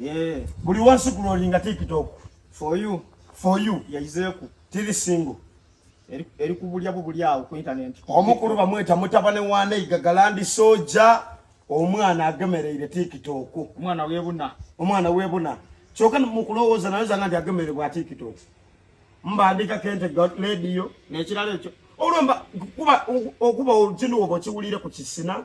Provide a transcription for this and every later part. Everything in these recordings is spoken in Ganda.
Yeah. Buli wansi ku lori nga TikTok. For you. For you. Yayizeeku. Tiri single. Eri kubulya bubuli awo ku internet. Omukulu bamweta mutabane wa Neiga Galandi Soja. Omwana agemereire TikTok. Omwana webuna. Omwana webuna. Kyoka mukulowooza nayo zanga ndi agemereire bwa TikTok. Mbandika kente got radio. Nekirala ekyo. Olomba kuba okuba olutino obo kiwulire ku kisina.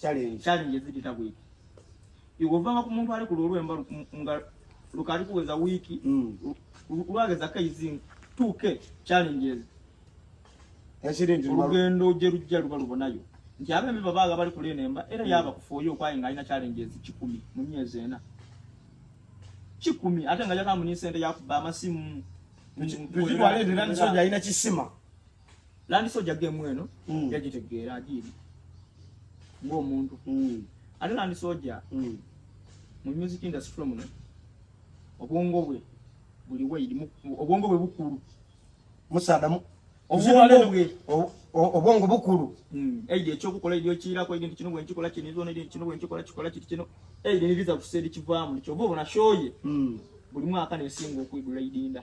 challenge challenge zipita ku wiki iwovanga ku muntu ali ku lulwe mba nga lukali kuweza wiki mm. lwageza kaizi 2k challenges ekiringi olugendo ojja lujja luba lubonayo nti abembi babaaga bali ku lenemba era mm. yaba kufuoyo okwaye nga alina challenges kikumi mu myezi ena kikumi ate nga yakamunyi sente yakuba amasimu tukitwale era nsonja alina kisima landi soja gemu eno mm. yagitegeera agiiri ng'omuntu mm. ate landi soja mm. mu music industry muno obwongo bwe buli waidi obwongo bwe bukulu musaadamu obwongo bukulu hmm. eidi ekyokukola edi okirako edi nti kino bwenkikola kinizona edi kino bwenkikola kikola kiti kino eidi nibiza kusa eri kivaamu nikyova obona shoye hmm. buli mwaka nesinga okwigula idinda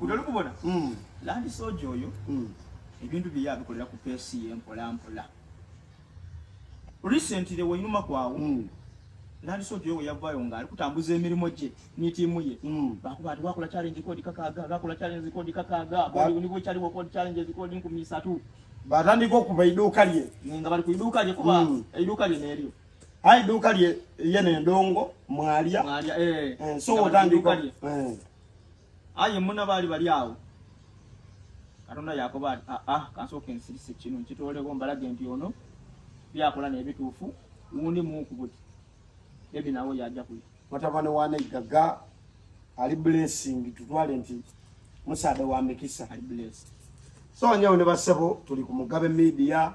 otalikubona hmm. landi soja oyo hmm. ebintu bye yabikolera ku pesi ye mpola mpola recently wenyuma kwawo hmm. landi soja oyo weyavayo nga ali kutambuza emirimu gye nitiimu ye bakuba ati wakola challenge kodi kakaaga bakola challenge kodi kakaaga bwaliwo nibo ekyaliwo kodi challenge zikodi nkumi isatu batandika okuva iduuka lye nga bali ku iduuka lye kuba mm. iduuka lye neeryo ayi iduuka lye ye nendongo mwalya mwalya eh, eh so otandika eh ayi muna bali bali awo katonda yakoba ati a ah, a ah, kansooka ensirise kino nkitoolewo mbalage nti ono byakola nebituufu wundi muukubuti ebi nawe yajja kuya mutabani wa neggaga ali blessing tutwale nti musaada wa mikisa ali blessed so anyawo ne basebo tuli ku mugabe media